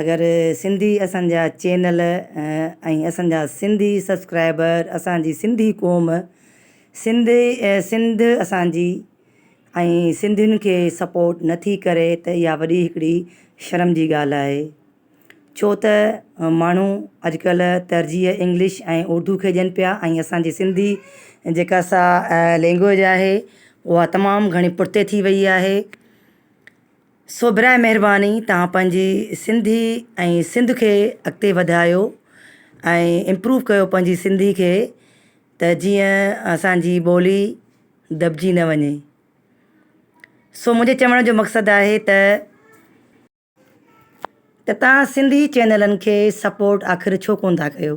اگر سنڌي اسان جا چينل ۽ اسان جا سنڌي سبسڪرائبر اسان جي سنڌي قوم سنڌي سنڌ اسان جي ۽ سنڌين کي سپورٽ نه ٿي ڪري ته اها وڏي هڪڙي شرم جي ڳالهه آهي ڇو ته ماڻهو اڄ ڪلهه ترجيح انگلش ۽ اردو کي ڏين پيا ۽ اسان جي سنڌي جيڪا سا لينگويج آهي اها تمام گهڻي پٺتي ٿي وئي آهي سو برائي مهرباني توهان پنهنجي سنڌي ۽ سنڌ کي اڳتي وڌايو ۽ امپروو ڪيو پنهنجي سنڌي کي ته جيئن اسانجي ٻولي دٻجي نه وڃي سو منهنجي چوڻ جو مقصد آهي ته ته توهان سنڌي چينلن کي سپورٽ آخر ڇو ڪونه ٿا ڪيو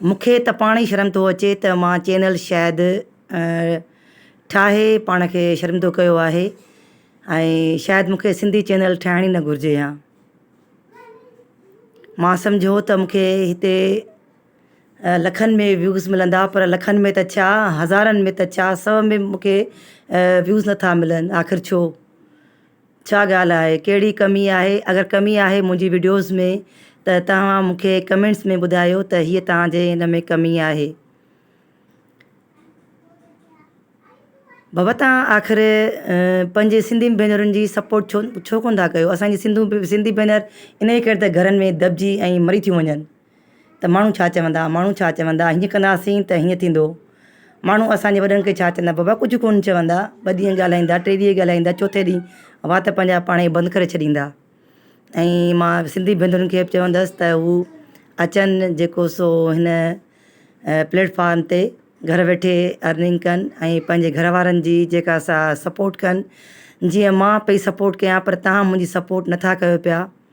مون کي ته پاڻ ئي شرم ٿو اچي ته مان چينل شايد ٺاهي پاڻ کي شرمندو ڪيو آهي ۽ شايد مون کي سنڌي چينل ٺاهڻ ئي نه گهرجي ها مان سمجهيو ته مون کي هتي لکن ۾ ويوز ملندا پر لکن ۾ ته ڇا هزارن ۾ ته ڇا سو ۾ مون کي ويوز نٿا ملن آخر ڇو ڇا ڳالهه آهي ڪهڙي ڪمي آهي اگر ڪمي آهي منهنجي وڊيوز ۾ ته توهان مونکي ڪمينٽس ۾ ٻڌايو ته هي توهان جي ان ۾ ڪمي آهي بابا توهان آخر پنهنجي سنڌي ڀينرن جي سپورٽ ڇو ڇو ڪونه ٿا ڪيو اسان جي سنڌو سنڌي ڀينر ان ڪري ته گهرن ۾ دٻجي ۽ مري ٿيون وڃن ته ماڻهو ڇا چوندا، ماڻهو ڇا چوندا، هيئن ڪنداسين ته هيئن ٿيندو، ماڻهو اسان جي وڏن کي ڇا چوندا، بابا ڪجهه ڪونه چوندا، ٻه ڏينهن ڳالهائيندا، ٽي ڏينهن ڳالهائيندا، چوٿين ڏينهن وات پنهنجا پاڻ ئي بند ڪري ڇڏيندا. ۽ مان سنڌي ڀينرن کي به چوندس ته هو اچن جيڪو سو هن پليٽ فارم تي گهر ويٺي ارننگ ڪن ۽ پنهنجي گهر وارن جي جيڪا سا سپورٽ ڪن جيئن مان پئي سپورٽ ڪيان پر تهان منهنجي سپورٽ نٿا ڪيو پيا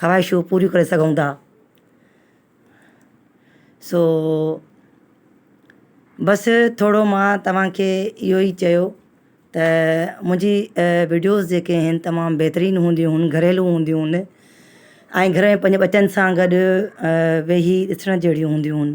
خواهشون پوريون ڪري سگهون ٿا سو بس ٿورو ماء توهان کي اهو ئي چيو ته منهنجي وڊيوز جيڪي آهن تمام بهترين هونديون هن گهريلو هونديون هن ۽ گهر ۾ پنهنجي ٻچن سان گڏ ويهي ڏسڻ جهڙيون هونديون هن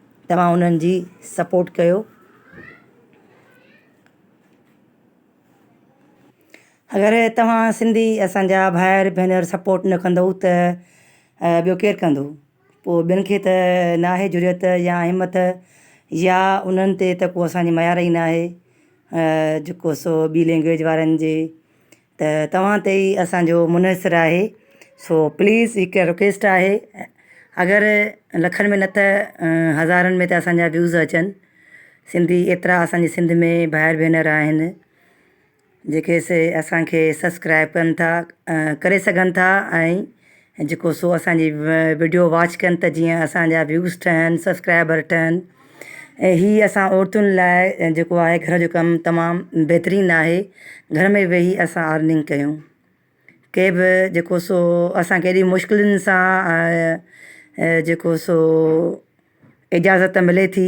توهان انهن جي سپورٽ ڪيو. اگر توهان سنڌي اسان جا ڀائر ڀينر سپورٽ نه ڪندؤ ته ٻيو ڪير ڪندو پو ٻين کي ته ناهي جرئت يا همت يا انهن تي ته ڪو اسان جي ميار ئي ناهي جيڪو سو ٻي لينگويج وارن جي ته توهان تي ئي اسان جو منحصر آهي سو پليز هڪ رڪويسٽ آهي اگر لکن ۾ نه ته هزارن ۾ ته اسان جا ويوز اچن سنڌي ايترا اسان جي سنڌ ۾ ڀائر ڀينر آهن جيڪي سي اسان کي سبسڪرائب ڪن ٿا ڪري سگهن ٿا ۽ ۽ جيڪو سو اسان جي وڊيو واچ ڪن ته جيئن اسان جا ويوز ٺهن سبسڪرائبر ٺهن ۽ هي اسان عورتن لاء جيڪو آهي گهر جو ڪم تمام بهترين آهي گهر ۾ ويهي اسان ارننگ ڪيون ڪي به جيڪو سو اسان کي ايڏي مشڪلن سان جيڪو سو اجازت ملي ٿي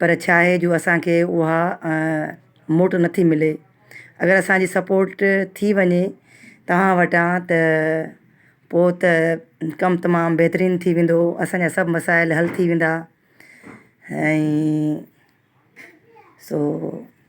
پر ڇا آهي جو اسان کي اها موٽ نٿي ملي اگر اسان جي سپورٽ ٿي وڃي توهان وٽان ته پوء ته ڪم تمام بهترين ٿي ويندو اسان جا سڀ مسائل حل ٿي ويندا ۽ سو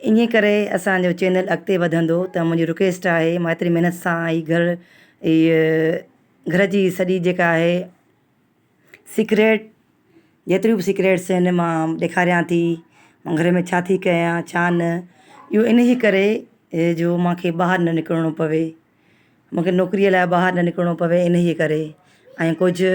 انهي ڪري اسان جو چينل اڳتي وڌندو ته منهنجي رڪويسٽ آهي مان ايتري محنت سان هي گهر هي گهر جي سڄي جيڪا آهي سيڪريٽ جيتريون به سيڪريٽس آهن مان ڏيکاريان ٿي مان گهر ۾ ڇا ٿي ڪيان ڇا نه اهو انهي ڪري هي جو مونکي ٻاهر نه نڪرڻو پوي مونکي نوڪري لاء ٻاهر نه نڪرڻو پوي انهي ڪري ۽ ڪجهه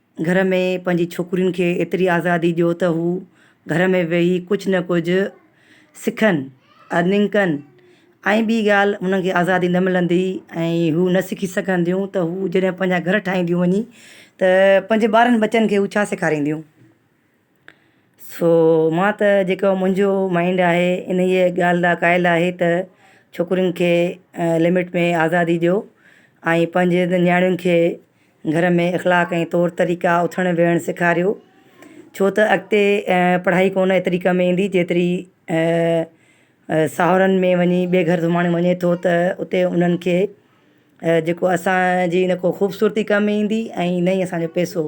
گهر ۾ پنهنجي ڇوڪرين کي ايتري آزادي ڏيو ته هو گهر ۾ ويهي ڪجهه نه ڪجهه سکن ارننگ ڪن ۽ ٻي ڳالهه انهن کي آزادي نه ملندي ۽ هو نه سکي سگهنديون ته هو جڏهن پنهنجا گهر ٺاهينديون وڃي ته پنهنجي ٻارن ٻچن کي هو ڇا سيکارينديون سو مان ته جيڪو منهنجو مائينڊ آهي انهيء ڳالهه لاء قائل آهي ته ڇوڪرين کي لمٽ ۾ آزادي ڏيو ۽ پنهنجي نياڻين کي گهر ۾ اخلاق ۽ طور طريقا اٿڻ ويهڻ سيکاريو ڇو ته اڳتي پڙهائي ڪونه ايتري ڪم ايندي جيتري ساهرن ۾ وڃي ٻئي گهر سمهاڻي وڃي ٿو ته اتي انهن کي جيڪو اسانجي نه ڪو خوبصورتي ڪم ۾ ايندي ۽ نه ئي اسانجو پيسو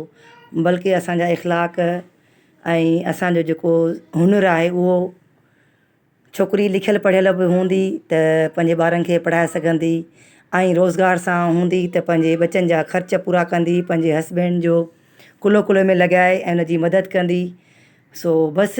بلڪه اسانجا اخلاق ۽ اسانجو جيڪو هنر آهي اهو ڇوڪري لکيل پڙهيل به هوندي ته پنهنجي ٻارن کي پڙهائي سگهندي ۽ روزگار سان هوندي ته پنهنجي ٻچن جا خرچ پورا ڪندي پنهنجي هسبينڊ جو ڪلهو ڪلهو ۾ لڳائي ۽ ان جي مدد ڪندي سو بس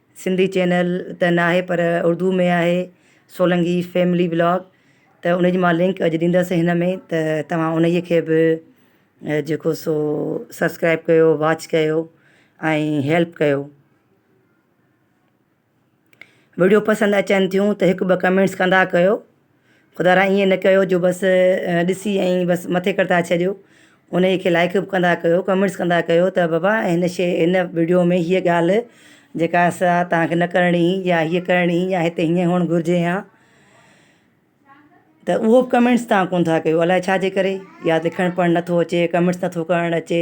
سنڌي چينل ته ناهي پر اردو ۾ آهي سولنگي فيملي بلاگ ته ان جي مان لنڪ اڄ ڏيندس هن ۾ ته توهان انهيء کي به جيڪو سو سبسڪرائب ڪيو واچ ڪيو ۽ هيلپ ڪيو. وڊيو پسند اچن ٿيون ته هڪ ٻه ڪمينٽس ڪندا ڪيو. خدا را ائين نه ڪيو جو بس ڏسي ائين بس مٿي ڪرتا ڇڏيو ان کي لائڪ به ڪندا ڪيو ڪمينٽس ڪندا ڪيو ته بابا ھن شي ھن وڊيو ۾ ھيء ڳالھ جيڪا سا تھانکي نه ڪرڻي ھئي يا ھيء ڪرڻي ھئي يا ھتي ھيئن ھئڻ گھرجي ھا ته اھو ڪمينٽس تھان ڪونھ ٿا ڪيو الائي ڇاجي ڪري يا لکڻ پڙھڻ نٿو اچي ڪمينٽس نٿو ڪرڻ اچي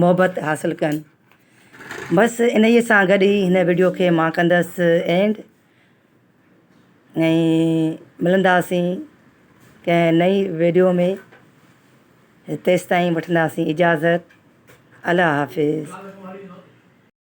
محبت حاصل ڪن بس انهي سان گڏ ئي هن وڊيو کي مان ڪندس اينڊ ۽ ملنداسين ڪنهن نئي ويڊيو ۾ تيستائين وٺنداسين اجازت الله حافظ